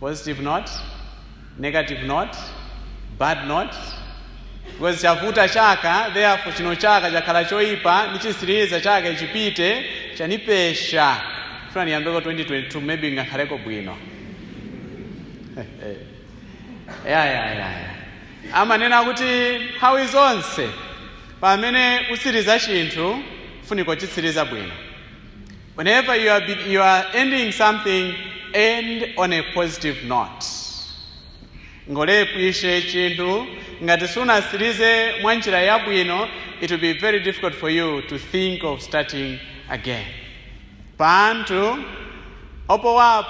positive note negative note bad note because chavuta chaka therefore chino chaka chakhala choipa nichitsiriza chaka ichipite chanipesha funa niyambeko 2022 maybe ngakhaleko bwino ya ya ya ya amanena kuti nthawi zonse pamene usiriza chinthu funiko kuchitsiriza bwino Whenever you are, you are ending something, end on a positive note. Ngolepwishe chinthu ngati sunasirize mwa njira yabwino, it will be very difficult for you to think of starting again. Pantu opowa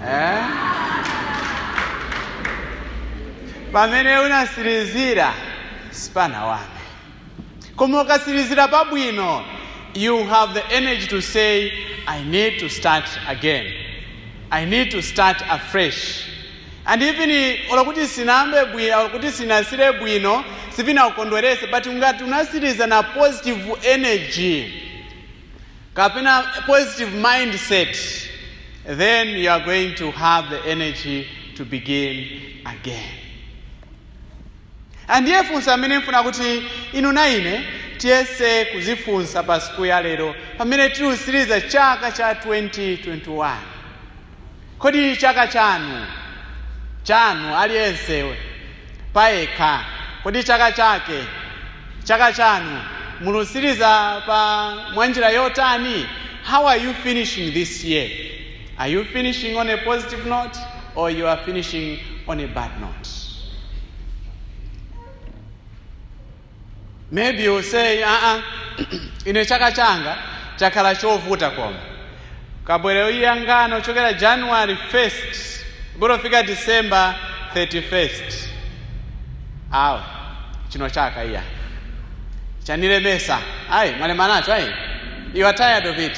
eh? pamene unasirizira sipana wame koma ukasirizira pabwino you have the energy to say i need to start again i need to start afresh and even olo kuti sinayambe bwino olo kuti sinasire bwino sivinaukondwerese but ngati unasiriza na positive energy kapena positive mindset then you are going to have the energy to begin again and ndiye funso amene mfuna kuti inu na ine tiyese kuzifunsa pa siku ya lero pamene tilusiriza chaka cha 2021 kodi chaka chanu chanu aliyense payekha kodi chaka chake chaka chanu mulusiriza pa mwanjira yotani how are you finishing this year Are you finishing on a positive note or you are finishing on a bad note? Maybe you say, uh -uh, ine chaka changa chakhala chovuta koma kabwera uyangano chokera January 1st kufika December 31st awe chino chaka iya chanile mesa ayi mwalemanacho ayi you are tired of it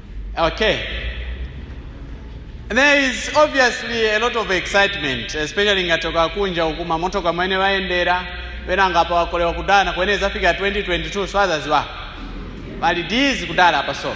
Okay. There is obviously a lot of excitement, especially ngatoka kunja uku mamotoka amene wayendera pena ngapa wakolewa kudana kwene zafika 2022 so azaziwa pali dizi kudala apa so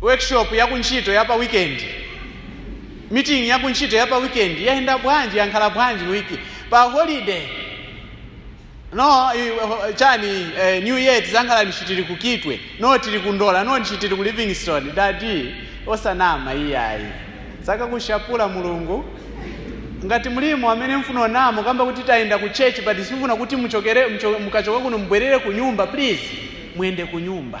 workshop ya kuntchito ya pa weekend meeting ya kuntchito ya pa weekend yayenda bwanji yankala bwanji wiki pa holiday no i- ho- chani eh, new year tizankala nishi tili ku kitwe no tili ku ndola no nishi tili ku livingstone dadi osanama iyayi sakakushapula mulungu ngati mlimo amene mfuna kunama kukamba kuti tayenda ku church but simfuna kuti muchokere mcho- mukachoka kuno mubwerere ku nyumba please muyende ku nyumba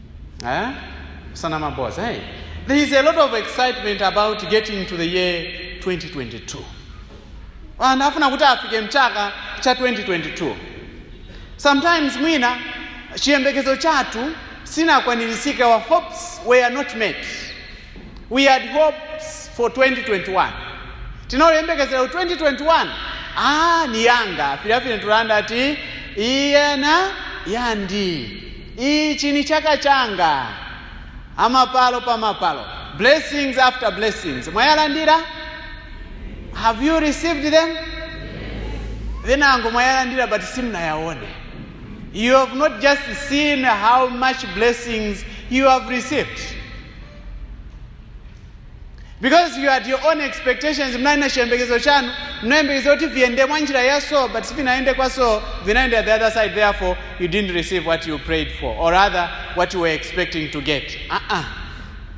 Eh? Sanama boss, hey? Eh? There is a lot of excitement about getting to the year 2022. And afuna kuti afike mchaka cha 2022. Sometimes mwina chiyembekezo chatu sina kwanilisika our hopes were not met. We had hopes for 2021. Tinaoyembekezera ku 2021. Ah, ni yanga. Filafine tulanda ati iyena yandi. Ichi ni chaka changa. Amapalo pa mapalo. Blessings after blessings. Mwayalandira? Have you received them? Then ango mwayalandira but simnayaone. You have not just seen how much blessings you have received. because you had your own expectations mnali na chiyembekezo chanu mnayembekeza kuti viyende mwa njira ya so but sivinayende kwa so vinayenda the other side therefore you didn't receive what you prayed for or rather what you were expecting to get uh-uh.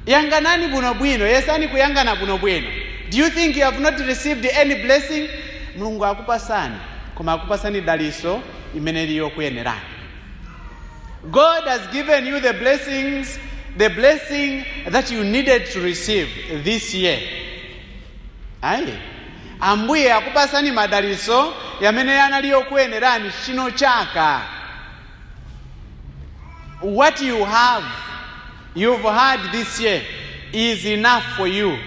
yanganani bwinobwino yesani kuyangana bwinobwino do you think you have not received any blessing mulungu akupasani koma akupasani daliso imene liyokuyenerani God has given you the blessings, the blessing that you needed to receive this year. Ayi. Ambuye akupasani madaliso yamene anali yokuyenerani chino chaka. What you have you've had this year is enough for you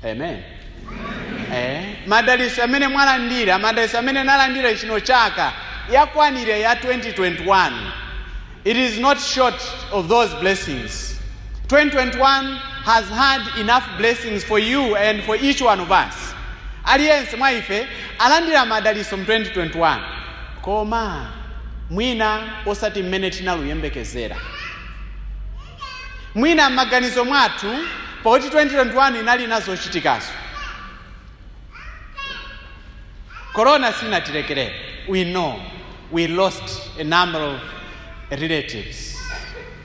amen eh, madaliso yamene mwalandira madaliso yamene nalandira chino chaka yakwanira ya 2021 it is not short of those blessings 2021 has had enough blessings for you and for each one of us aliyense mwa ife alandira madaliso mu 2021 koma mwina osati mmene tinaluyembekezera mwina m'maganizo mwathu pakuti 2021 inali nazochitikazo corona sinatilekerera we know we lost a number of relatives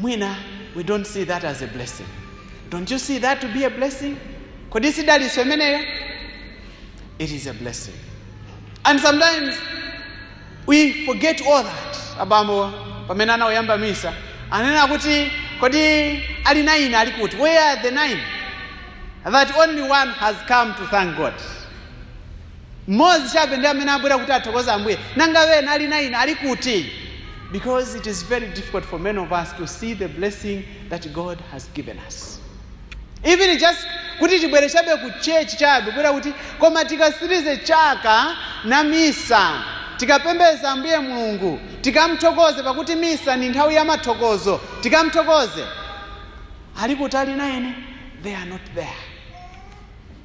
Mwina we don't see that as a blessing. Don't you see that to be a blessing? Kodi si dalitso imeneyo? It is a blessing. And sometimes we forget all that. Abambo pamene anauyamba misa anena kuti kodi ali nine ali kuti where are the nine? That only one has come to thank God. mmodzi chabe ndi amene wabwera kuti athokoze ambuye nanga wena ali naini ali kuti because it is very difficult for many of us to see the blessing that god has given us even just kuti tibwere chabe ku chechi chabe kubwera kuti koma tikasirize chaka na misa tikapembeza ambuye mulungu tikamthokoze pakuti misa ni nthawi ya mathokozo tikamthokoze ali kuti ali naini they are not there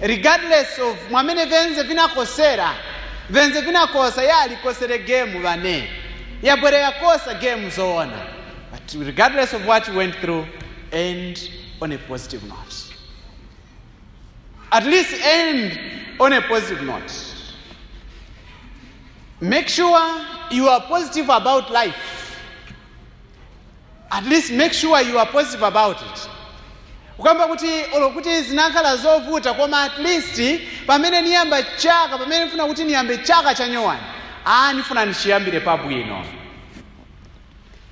regardless of mwamene venze vinakosera venze vinakosa ya alikosere game vane yabwere yakosa game zoona but regardless of what you went through end on a positive note at least end on a positive note make sure you are positive about life At least make sure you are positive about it. Ukamba kuti olo kuti zinakhala zovuta koma at least pamene niyamba chaka pamene nifuna kuti niyambe chaka cha nyowani ah nifuna nichiyambire pabwino.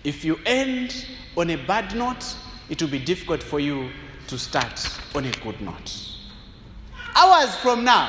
If you end on a bad note it will be difficult for you to start on a good note. Hours from now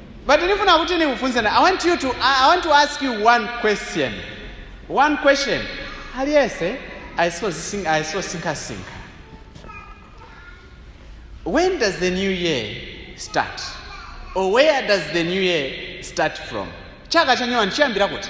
But nifuna kuti nikufunseni, I want you to, I want to ask you one question. One question. Aliyense ayisozisinga ayisosinkhasinkha. When does the new year start? Or where does the new year start from? Chaka chanyowa nchiyambira kuti?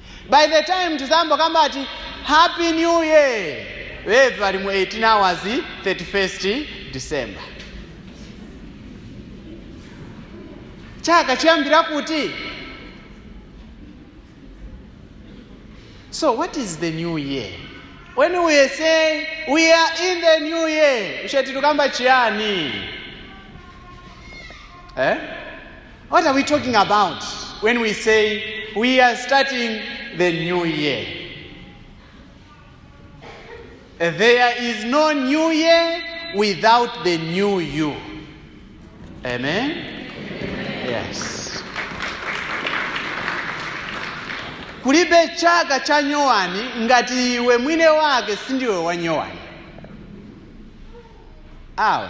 by the time tizambokamba ati happy new year weve pali mu 18 hours 31st december chaka chiyambira kuti so what is the new year when we are saying we are in the new year ushe titukamba chiyani eh? What are we talking about when we say we are starting the new year? There is no new year without the new you. Amen? Amen. Yes. kulibe chaka cha nyowani ngati iwe mwine wake sindiwe wa nyowani awe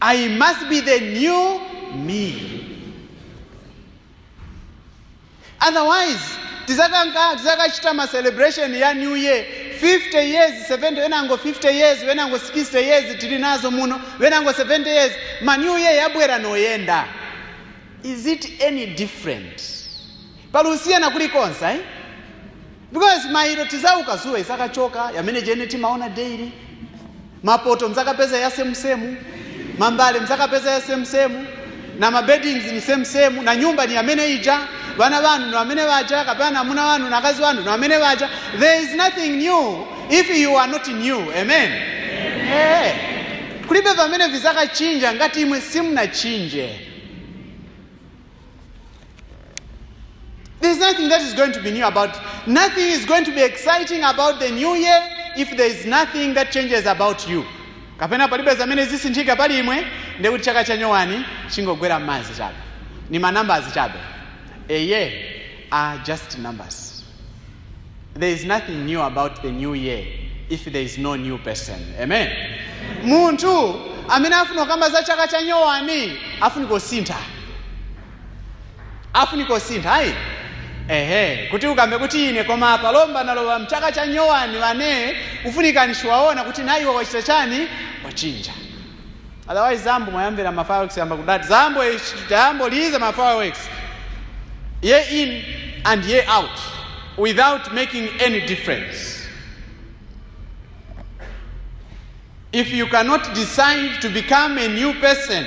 I must be the new me. Otherwise, tizakanga tizakachita ma celebration ya new year 50 years 70 wenango 50 years wenango 60 years tili nazo muno wenango 70 years ma new year yabwera noyenda is it any different pali usiyana kulikonse eh? because mailo tizauka zuwa izakachoka yamene jene timaona daily mapoto mzakapeza ya same same mambale mzakapeza ya same same na mabeddings ni same same na nyumba ni yamene ija bana banu ni wamene baja kapena amuna wanu na kazi wanu ni wamene baja there is nothing new if you are not new amen, Eh. kulibe pamene vizakachinja ngati imwe simnachinje There's nothing that is going to be new about. Nothing is going to be exciting about the new year if there is nothing that changes about you. kapena palibe zamene zisinthika pali imwe ndiye kuti chaka chanyowani chingogwera m'madzi chabe ni manambazi chabe they are just numbers there is nothing new about the new year if there is no new person amen munthu amene afuna kukamba za chaka cha nyowani afunika kusintha afunika kusintha ayi ehe kuti ukambe kuti ine koma apa lomba nalowa mchaka cha nyowani wane ufunika nishi waona kuti naiwe wachita chani wachinja Otherwise zambo mwayambira ma fireworks yamba kudati zambo ichi tayambo lize ma fireworks year in and year out without making any difference. If you cannot decide to become a new person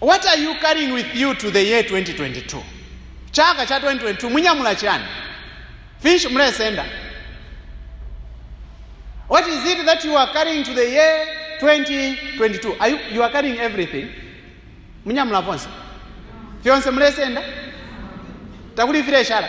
what are you carrying with you to the year 2022 chaka cha 2022 munyamula chiyani finshi mulesenda what is it that you are carrying to the year 2022 are you, you are carrying everything munyamula vonse fyonse mulesenda takuli fileshala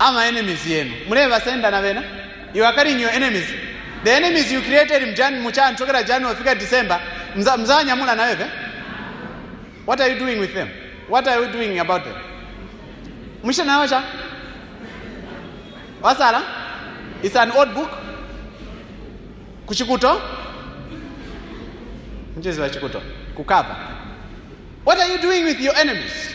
I'm an enemies yenu muleva senda na vena you are carrying your enemies the enemies you created mjan muchan chokera january fika december mza mzanyamula na wewe what are you doing with them what are you doing about them mwisha nayo cha wasala it's an old book kuchikuto mchezo wa chikuto kukava what are you doing with your enemies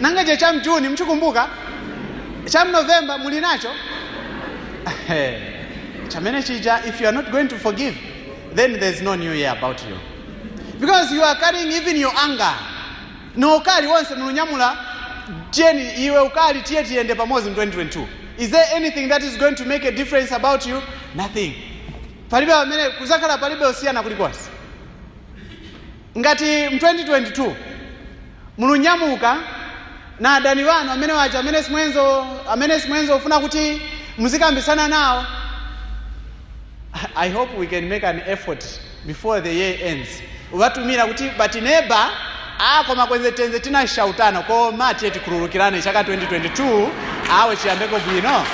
nanga icho cha mjuni mchikumbuka cha mnovemba muli nacho chamene chija if you are not going to forgive then there is no new year about you because you are carrying even your anger no ukali wonse mulinyamula jeni iwe ukali tiye tiyende pamodzi mu 2022 is there anything that is going to make a difference about you nothing palibe pamene kuzakhala palibe kusiyana kulikonse Ngati mu 2022 mulunyamuka na adani banu amene waja amene simwenzo amene simwenzo ufuna kuti muzikambisana nawo I hope we can make an effort before the year ends ubatumira kuti but neba ah koma kwenze tenze tinashautana koma tiye tikhululukirane chaka 2022 awe chiyambeko bwino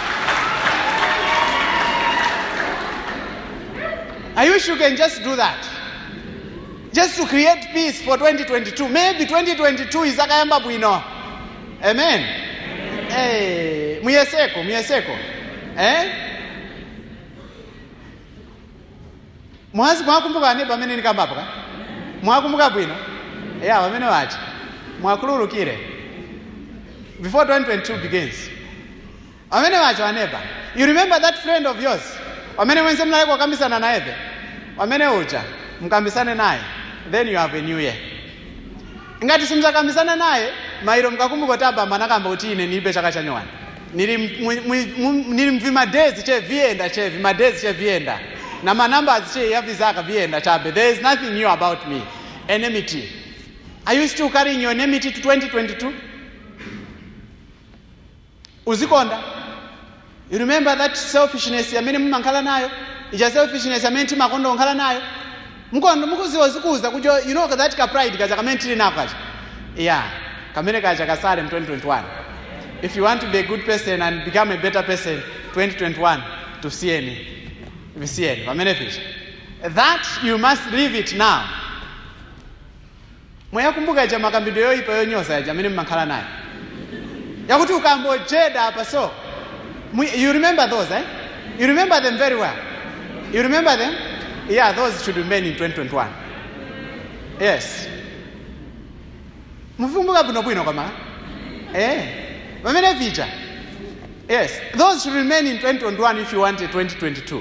I wish you can just do that just to create peace for 2022 maybe 2022 izakayamba bwino amen eh muyeseko muyeseko eh mwazi mwakumbuka wanene wamene nikambapo ka mwakumbuka bwino ya wamene wachi mwakhululukire before 2022 begins Pamene pacho aneba, you remember that friend of yours? Pamene mwenze mnaye kwa kambisana na ebe? Pamene uja, mkambisane naye, then you have a new year. Ngati simzakambisana naye, mairo mkakumbuko taba manakamba uti ine nibe chaka chanyowani. Nili, mu- mu- mu- nili mvima days che vienda che vima days che vienda. Na ma numbers che ya vizaka vienda chabe. There is nothing new about me. Enmity. Are you still carrying your enmity to 2022? uzikonda you remember that selfishness amene mumankhala nayo ija selfishness amene timakonda kunkhala nayo mkondo mukuziwa zikuza kujo you know that ka pride kaja kamene tili nako kaja yeah kamene kaja kasale mu 2021 if you want to be a good person and become a better person 2021 tusiyeni visiyeni pamene picha that you must leave it now mwayakumbuka yaja makambidwe yoyipa yonyoza yaja amene mmakhala nayo yakuti ukambojeda apa so mwi- you remember those eh? you remember them very well you remember them yeah those should remain in 2021 yes muvikumbuka bwinobwino kwamala eh pamene vija yes those should remain in 2021 if you want a 2022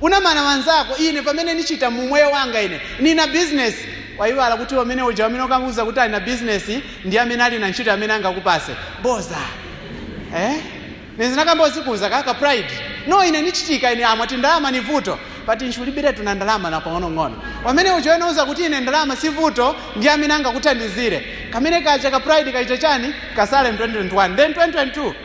unanama wanzako ine pamene nichita mumoyo wanga ine nina business waiwala kuti wamene uja wamene ukamuuza kuti ali na business ndi amene ali na ntchito amene angakupase post eh nezinakamba uzikuza kaka pride no ine nichitika ine amati ndalama ni vuto pati nchulibire tuna ndalama na pang'onong'ono wamene uja unauza kuti ine ndalama si vuto ndi amene angakuthandizire kamene kaja ka pride kaita chani kasale mu 2021 then 2022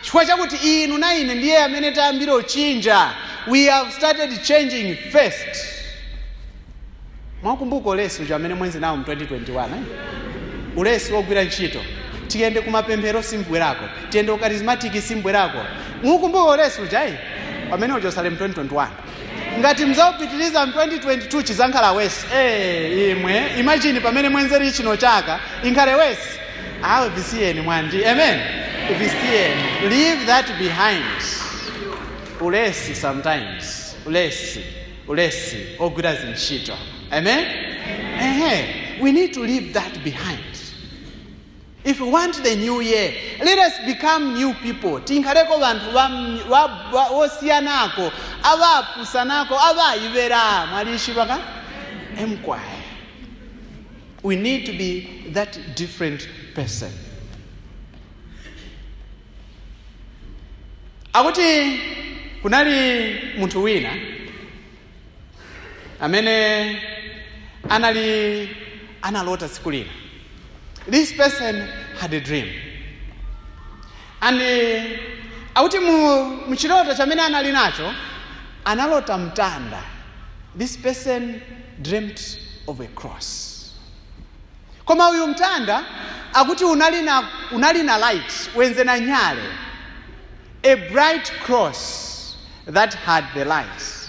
Chifukwa chakuti inu na ine ndiye amene tayambira uchinja, we have started changing first. Mukumbuka ulesi uja amene mwenzi nawo mu 2021 ulesi wogwira ntchito tiyende kumapemphero simbwerako tiyende kukarismatiki simbwerako mukumbuka ulesi uja eh? pamene uja usale mu 2021 ngati mzaupitiliza mu 2022 chizankhala wesi ee imwe imagine pamene mwenzeri chino chaka inkhale wesi awe visiyeni mwandi amen visiyeni leave that behind ulesi sometimes ulesi ulesi ogwira zintchito amen ehe we need to leave that behind If we want the new year, let us become new people. Tinkhareko banthu ba, ba, ba, osiyanako, abapusanako, abayibera. Mwalishiba ka? Emkwaya. We need to be that different person. Akuti kunali munthu wina amene analota siku lina this person had a dream and akuti muchiloto chamene anali nacho analota mtanda this person dreamt of a cross koma uyu mtanda akuti unali na light wenze na nyale A bright cross that had the lights.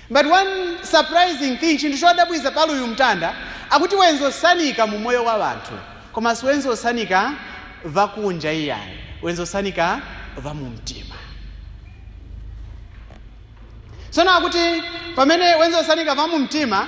But one surprising thing, chinthu chodabwitsa pali uyu mtanda akuti wenzi osanika mu moyo wa wanthu koma si wenzi osanika vakunja iyayi wenzi osanika va mu mtima tsono akuti pamene wenzi osanika va mu mtima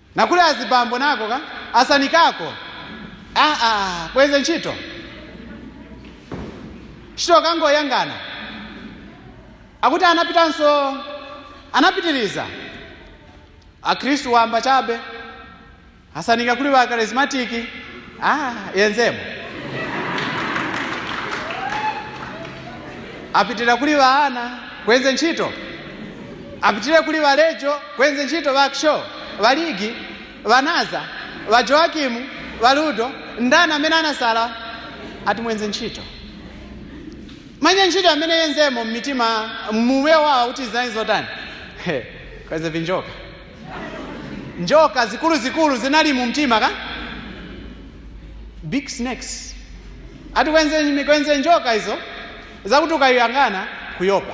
nakuli azibambo nako ka asanikako kwenze ntchito chito kangoyangana akuti anapitanso anapitiriza akhristu wamba chabe asanika kuli wa karismatiki yenzemo apitira kuli vaana kwenze ntchito apitire kuli valejo Bwenzi ntchito ba Xo, ba Ligi, ba Naza, ba Joakim, ba Ludo, ndani amene anasala ati mwenze ntchito? Mwenye ntchito amene yenzemo mmitima mume wawo kuti zinali zotani? He, Kwenze vinjoka. Njoka zikulu zikulu zinali mu mtima ka? Big snakes. Ati kwenze kwenze njoka izo zakuti ukayang'ana kuyopa.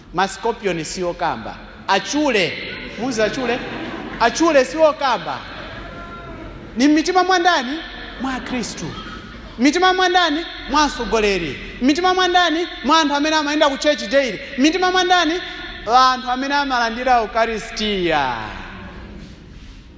Ma scorpion siokamba. Achule! Muuziwa achule? Achule siokamba. Ni m'mitima mwa ndani? Mwa Akhristu. M'mitima mwa ndani? Mwa atsogoleri. M'mitima mwa ndani? Mwa anthu amene amayenda ku church daily. M'mitima mwa ndani? Anthu amene amalandira Ukaristiya.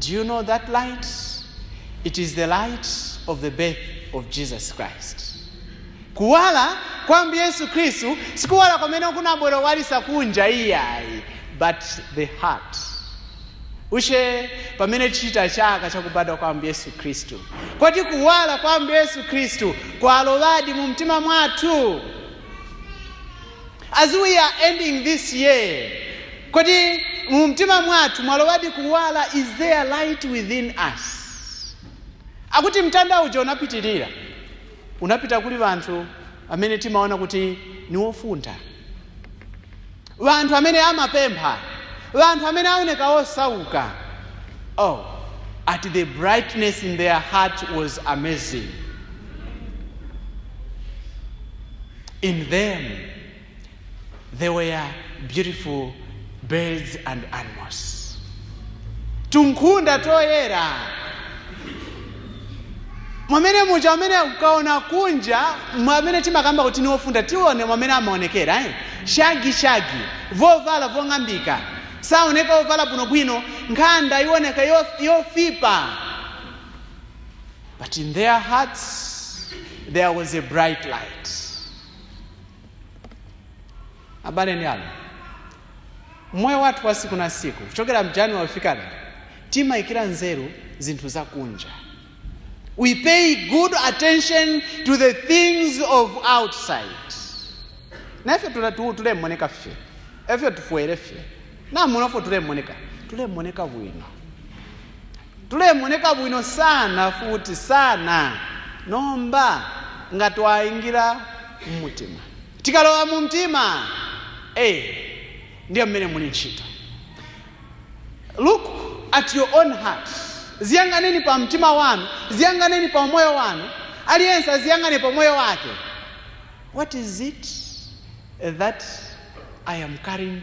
Do you know that light? It is the light of the birth of Jesus Christ. Kuwala kwa Ambuye Yesu Khristu sikuwala kwamene kunabwera kuwalisa kunja iyayi, but the heart. Ushe pamene tichita chaka chakubadwa kwa Ambuye Yesu Khristu. Kodi kuwala kwa Ambuye Yesu Khristu kwalowadi mu mtima mwathu? As we are ending this year, kodi mu mtima mwathu mwalowadi kuwala? Is there light within us? Akuti mtanda uja unapitirira, unapita kuli vanthu amene timaona kuti ni wofuntha, vanthu amene amapempha, vanthu amene aoneka osauka. At the brightness in their heart was amazing. In them there were beautiful birds and animals. Tunkunda toyera mwamene muja amene ukaona kunja mwamene timakamba kuti ni ofuntha tione mwamene amaonekera shagi shagi vovala vong'ambika saoneka ovala bwino bwino nkhanda ioneka yofipa But in their hearts, there was a bright light. abale ni alongo moyo wathu wa siku na siku kuchokera mjani wafika lero timayikira nzeru zinthu zakunja we pay good attention to the things of outside na efyo tule- tu- tulemoneka fye efyo tufwele fye na muno fwe tulemoneka tulemoneka bwino tulemoneka bwino sana futi sana nomba nga twaingira mumutima tikalowa mu mtima hey, ndiyo mmene muli ntchito look at your own heart ziyanganeni pa mtima wanu ziyanganeni pa moyo wanu aliyense aziyangane pa moyo wake what is it that i am carrying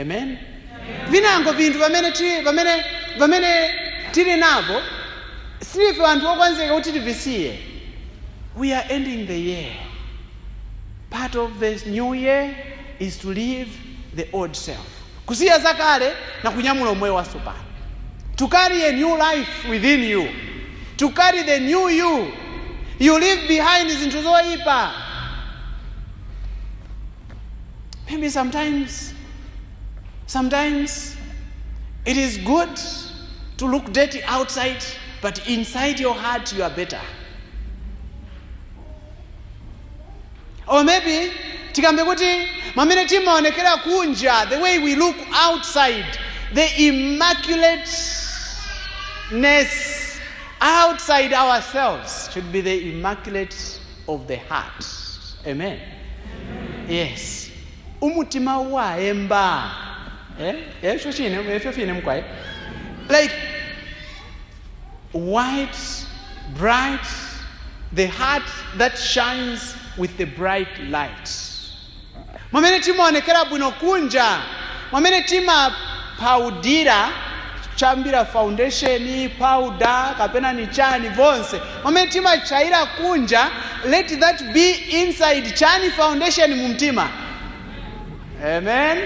amen vinango vinthu pamene ti- pamene pamene tili navo silife anthu okonzeka kuti tivisiye we are ending the year part of the new year is to leave the old self kusiya zakale na kunyamula umoyo watsopano to carry a new life within you to carry the new you you leave behind zinthu zoyipa maybe sometimes sometimes it is good to look dirty outside but inside your heart you are better or maybe tikambe kuti mamene timaonekera kunja the way we look outside the immaculateness outside ourselves should be the immaculate of the heart amen, yes umutima wayemba eh? efyo chine efyo fine mukwaye like white, bright, the heart that shines with the bright light. Mwamene timaonekera bwino kunja, mwamene timaphaudira chambira foundation, powder, kapena ni chani vonse. Mwamene timachaira kunja, let that be inside chayani foundation mumtima. Amen.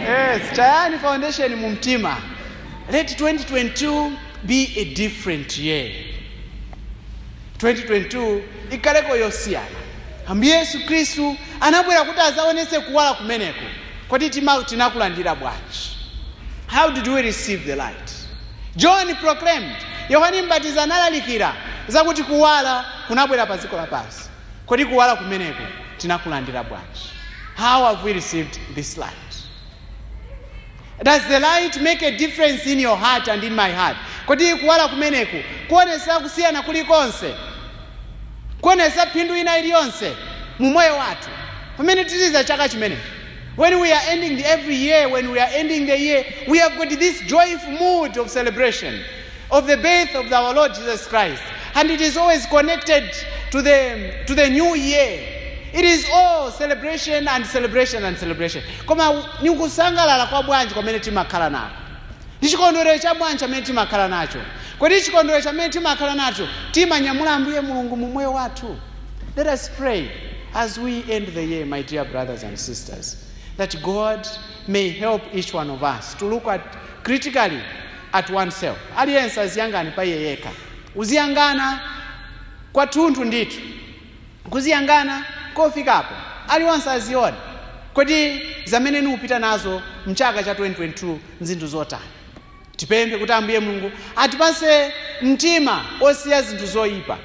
Yes, chayani foundation mumtima. Let 2022 be a different year. 2022 ikhaleko yosiyana. Ambuye Yesu Khristu anabwera kuti azaonese kuwala kumeneko. Kodi tima tinakulandira bwanji? How did we receive the light? John proclaimed, Yohane Mbatizi analalikira zakuti kuwala kunabwera pa dziko lapansi. Kodi kuwala kumeneko tinakulandira bwanji? How have we received this light? Does the light make a difference in your heart and in my heart? Kodi kuwala kumeneko kuonesa kusiyana kulikonse? Kuonesa phindu ina iliyonse mu moyo wathu? Pamene tisiliza chaka chimenechi. When we are ending the, every year, when we are ending the year, we have got this joyful mood of celebration. of the birth of our Lord Jesus Christ. And it is always connected to the, to the new year. It is all celebration and celebration and celebration. Koma ni kusangalala kwa bwanji kwamene timakhala nako. Ni chikondwerero cha bwanji chamene timakhala nacho. Kodi chikondwerero chamene timakhala nacho timanyamula Ambuye Mulungu mu moyo wathu. Let us pray as we end the year, my dear brothers and sisters, that God may help each one of us to look at critically at oneself. Aliyense aziyangane pa iye yekha. Uziyangana kwathunthu ndithu. Kuziyangana kofikapo. Aliyense azione. Kodi zamene niupita nazo mchaka cha 2022 nzinthu zotani? Tipemphe kuti Ambuye Mulungu atipase mtima osiya zinthu zoipa.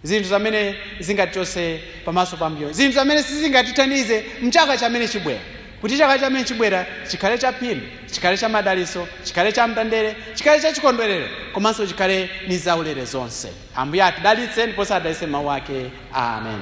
Zinthu zamene zingatichose pamaso pa Ambuye. Zinthu zamene sizingatithandize mchaka chamene chibwera. Kuti chaka chamene chibwera chikhale cha phindu, chikhale cha madaliso, chikhale cha mtendere, chikhale cha chikondwerero, komanso chikhale ni zaulere zonse. Ambuye atidalitse ndiponso adalitse mau ake. Amen.